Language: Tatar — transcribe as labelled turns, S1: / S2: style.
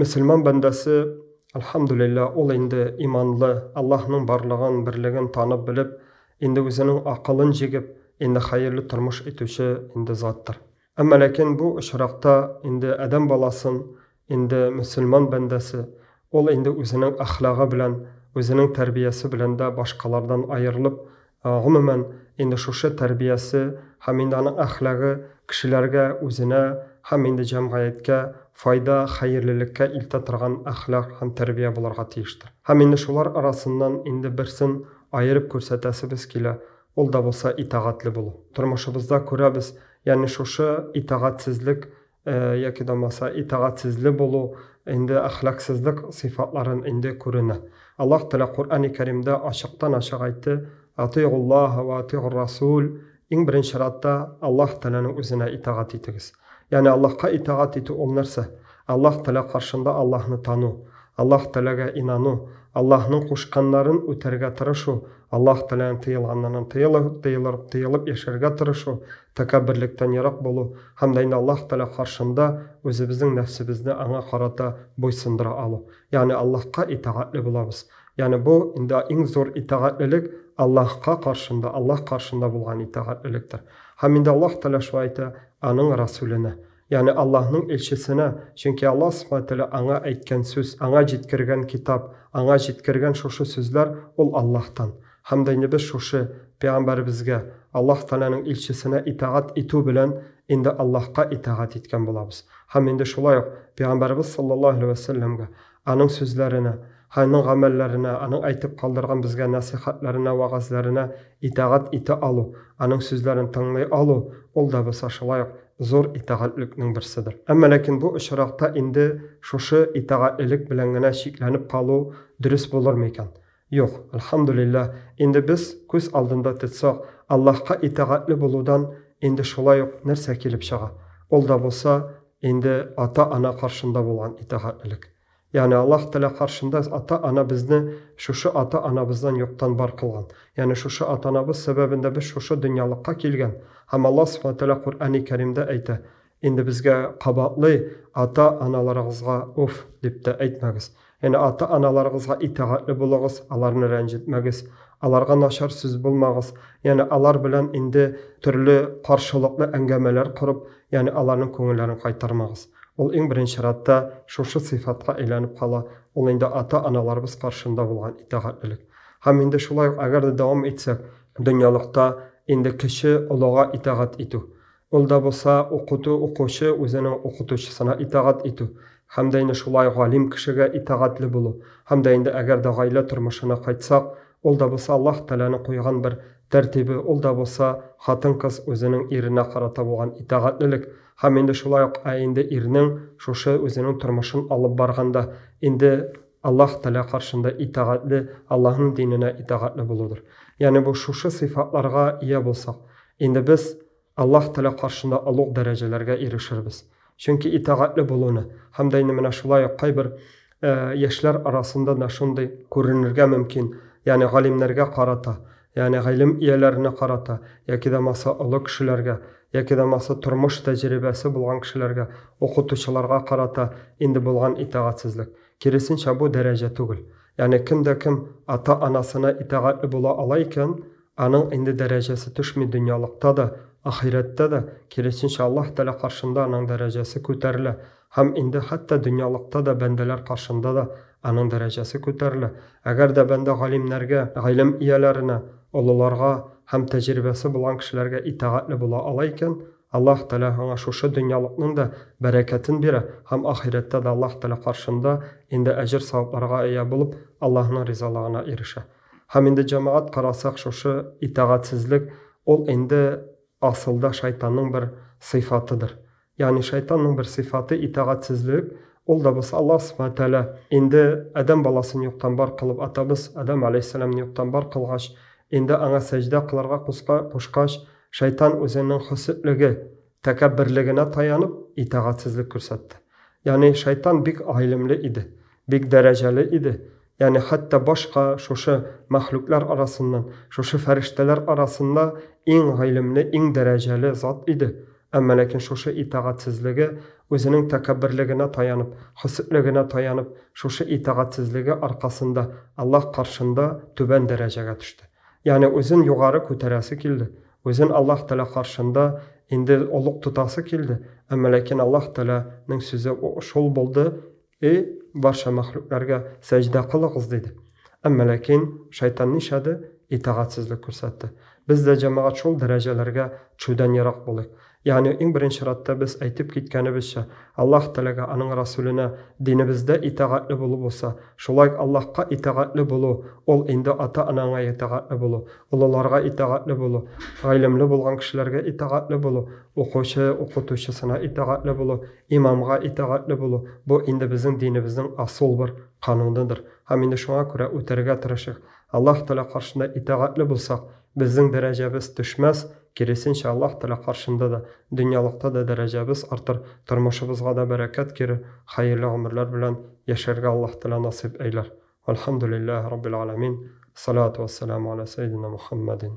S1: Мөселман бәндәсе, әлхәмдүлилләһ, ул инде иманлы, Аллаһның барлыгын, берлеген танып-белеп, инде үзенең акылын җигеп, инде хәерле тормыш итүче инде заттыр. Әмма ләкин бу очракта инде адәм баласын, инде мөселман бәндәсе, ул инде үзенең әхлагы белән, үзенең тәрбиясе белән дә башкалардан аерылып, Гомумән, инде шушы тәрбиясе һәм инде аның әхлагы кешеләргә, үзенә һәм инде җәмгыятькә файда, хәерлелеккә илтә торган әхлак һәм тәрбия булырга тиештер. Һәм инде шулар арасыннан инде берсен аерып күрсәтәсебез килә, ул да булса итагатьле булу. Тормышыбызда күрәбез, ягъни шушы итагатьсезлек яки да булмаса итагатьсезле булу, инде әхлаксызлык сыйфатларын инде күренә. Аллаһ Тәгалә Коръәни Кәримдә ачыктан-ачык әйтте, Атыйгуллаһа ва атыйгур Расул, иң беренче радта Аллаһ Тәгаләнең үзенә итагать итегез. Ягъни Аллаһка итагать итү ул нәрсә? Аллаһ Тәгалә каршында Аллаһны тану, Аллаһ Тәгаләгә инану, Аллаһның кушканнарын үтәргә тырышу, Аллаһ Тәгаләнең тыелганнарыннан тыелып, тыелып яшәргә тырышу, Тәкәбберлектән ерак булу һәм дә инде Аллаһ Тәгалә каршында үзебезнең нәфсебезне Аңа карата буйсындыра алу. Ягъни Аллаһка итагатьле булабыз. Ягъни бу инде иң зур итагатьлелек Аллаһка каршында, Аллаһ каршында булган итагатьлелектер. Һәм инде Аллаһ Тәгалә шулай әйтә Аның Рәсүленә. Ягъни Аллаһның илчесенә, чөнки Аллаһ Субхаһу Тәгалә аңа әйткән сүз, аңа җиткергән китап, аңа җиткергән шушы сүзләр ул Аллаһтан. Һәм дә инде без шушы пәйгамбәребезгә, Аллаһ Тәгаләнең илчесенә итагать итү белән инде Аллаһка итагать иткән булабыз. Һәм инде шулай ук пәйгамбәребез саллаллаһу галәйһи вә сәлләмгә, Аның сүзләренә, Аның гамәлләренә, Аның әйтеп калдырган безгә нәсыйхәтләренә, вәгазьләренә итагать итә алу, Аның сүзләрен тыңлый алу, ул да булса шулай ук зур итагатьлекнең берседер. Әмма ләкин бу очракта инде шушы итагатьлелек белән генә чикләнеп калу дөрес булырмы икән? Юк, Әлхәмдүлиллә, инде без күз алдында ТЦО, Аллаһка итәгатьле булудан инде шулай ук нәрсә килеп чыга? Ул да булса, инде ата-ана каршында булган итәгатьлелек. Ягъни Аллаһ Тәгалә каршында ата-ана безне шушы ата-анабыздан юктан бар кылган. Ягъни шушы атанабыз сәбәбендә без шушы дөньялыкка килгән. Һәм Аллаһ Субхана Тәгалә Коръәни Кәримдә әйтә, Инде безгә кабатлый, ата-аналарыгызга уф дип тә әйтмәгез. Яне ата-аналарыгызга итәгатьле булыгыз, аларны рәнҗетмәгез, аларга начар сүз булмагыз, яне алар белән инде төрле каршылыклы әңгәмәләр корып, яне аларның күңелләрен кайтармагыз. Ул иң беренче чиратта шушы сыйфатка әйләнеп кала, ул инде ата-аналарыбыз каршында булган итәгатьлелек. Һәм инде шулай ук әгәр дә дәвам итсәк, дөньялыкта инде кече олыга итәгать итү, Ул да булса укыту, укучы үзенең укытучысына итагать итү, һәм дә инде шулай галим кешегә итагатле булу, һәм дә инде әгәр дә гаилә тормышына кайтсак, ул да булса Аллаһ Тәгаләнең куйган бер тәртибе, ул да булса хатын-кыз үзенең иренә карата булган итагатлелек, һәм инде шулай ук ә инде ирнең шушы үзенең тормышын алып барганда инде Аллаһ Тәгалә каршында итагатле, Аллаһның диненә итагатле булудыр. Ягъни бу шушы сыйфатларга ия булсак, Инде без Аллаһ Тәгалә каршында олуг дәрәҗәләргә ирешербез. Чөнки итагатьле булуны һәм дә инде менә шулай ук кайбер яшьләр арасында да шундый күренергә мөмкин, ягъни галимнәргә карата, ягъни гыйлем ияләренә карата яки дә булмаса олы кешеләргә, яки дә булмаса тормыш тәҗрибәсе булган кешеләргә, укытучыларга карата инде булган итагатьсезлек. Киресенчә, бу дәрәҗә түгел. Ягъни кем дә кем ата-анасына итагатьле була ала икән, Аның инде дәрәҗәсе төшми дөньялыкта да, ахирәттә дә, киресенчә, Аллаһ Тәгалә каршында аның дәрәҗәсе күтәрелә, һәм инде хәтта дөньялыкта да бәндәләр каршында да аның дәрәҗәсе күтәрелә. Әгәр дә бәндә галимнәргә, гыйлем ияләренә, олыларга һәм тәҗрибәсе булган кешеләргә итагатьле була ала икән, Аллаһ Тәгалә аңа шушы дөньялыкның да бәрәкәтен бирә һәм ахирәттә дә Аллаһ Тәгалә каршында инде әҗер-савапларга ия булып, Аллаһның ризалыгына ирешә. Һәм инде җәмәгать карасак шушы итагатьсезлек ул инде асылда шайтанның бер сыйфатыдыр. Ягъни шайтанның бер сыйфаты итагатьсезлек, ул да без Аллаһ Субхана Тәгалә инде Адәм баласын юктан бар кылып атабыз, Адәм галәйһиссәламне юктан бар кылгач, инде аңа сәҗдә кылырга кушкач, шайтан үзенең хөсетлеге, Тәкәбберлегенә таянып, итагатьсезлек күрсәтте. Ягъни шайтан бик гыйлемле иде, бик дәрәҗәле иде, ягъни хәтта башка шушы мәхлуклар арасыннан, шушы фәрештәләр арасында иң гыйлемле, иң дәрәҗәле зат иде, әмма ләкин шушы итагатьсезлеге, үзенең тәкәбберлегенә таянып, хөсетлегенә таянып, шушы итагатьсезлеге аркасында Аллаһ каршында түбән дәрәҗәгә төште. Ягъни үзен югары күтәрәсе килде, үзен Аллаһ Тәгалә каршында инде олуг тотасы килде, әмма ләкин Аллаһ Тәгалә нең сүзе шул булды, Эй, барча мәхлукләргә сәҗдә кылыгыз! диде. Әмма ләкин шайтан нишләде? Итагатьсезлек күрсәтте. Без дә, җәмәгать, шул дәрәҗәләргә төшүдән ерак булыйк. Ягъни, иң беренче чиратта без әйтеп киткәнебезчә, Аллаһ Тәгаләгә, Аның Расүленә, динебездә итагатьле булу булса, шулай ук Аллаһка итагатьле булу, ул инде ата-анаңа итагатьле булу, олыларга итагатьле булу, гыйлемле булган кешеләргә итагатьле булу, укучы, укытучысына итагатьле булу, имамга итагатьле булу, бу инде безнең динебезнең асул бер кануныдыр. Һәм инде шуңа күрә үтәргә тырышыйк. Аллаһ Тәгалә каршында итагатьле булсак, Безнең дәрәҗәбез төшмәс, киресенчә, Аллаһ Тәгалә каршында да, дөньялыкта да дәрәҗәбез артыр, тормышыбызга да бәрәкәт керер, хәерле гомерләр белән яшәргә Аллаһ Тәгалә насыйп әйләр. Вәлхәмдүлилләһи раббил галәмин. Ссалату вәссәламү галә сәйединә Мухәммәдин.